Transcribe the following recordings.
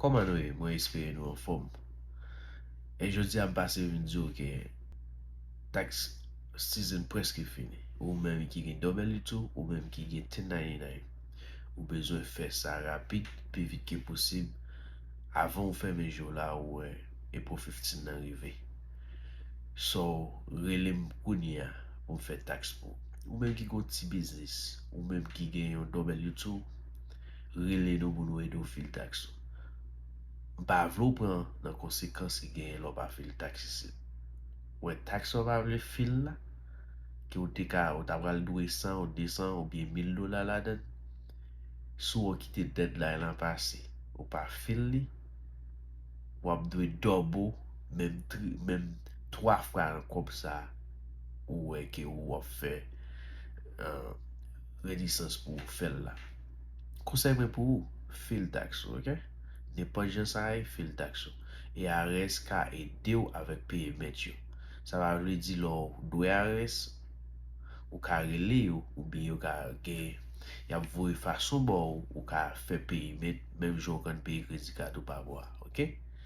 Kòman nou ye mwen espere nou anfòm e jodia m pase vin diw ke tax season preske fini ou menm ki gen double it ou ou menm ki gen 1099 ou bezwen fè sa rapid pi vit ke posib avan ou fèmen je w la ou wè April 15 nan rive so rele m kounya pou m fè tax pou ou menm ki gen yon ti biznis ou menm ki gen yon double it ou. rele nou pou nou ede w fil taks ou. M pa vle w pran nan konsekans ki genyen lè w pa fil taks isit. Wè taks sa w pa vle fil la, ke w te ka, ou ta pral dwe 100 ou 200 oubyen 1000 dola ladan, si w kite deadline lan pase, ou pa fil li, w ap dwe double, menm tri, menm 3 fwa nan kòb sa ou wè ke ou ap fè. Renisans pou ou fèl la. Konsèy mwen pou ou, fil tax ou ok. Nenpòt jan sa ye fil tax ou. IRS ka edew avèk payment yo. Sa pa vle di lè w dwe IRS ou ka rele yo oubyen yo ka gen yap voye fason baw ou ka fè payment menm jan ou konn peye kredi kat ou pa bò a ok.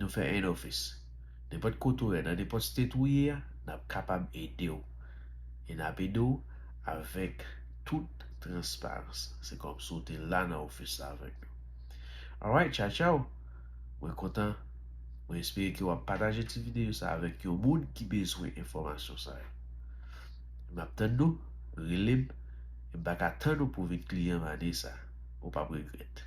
Nou fè 1 ofis. Nenpòt kote ou ye, nan nenpòt state ou ye a, nap kapab ede w. E nap ede w avèk tout transparans. Se kòm si w te la nan ofis la avèk nou. Alright, tchaw tchaw! Mwen kontan, mwen espere ke wap pataje ti videyo sa avèk yon moun ki bezwen enfòmasyon sa yo. Map tann nou, rele m, e m paka tann ou pou w vin kliyan m ane sa. Ou pap regrèt.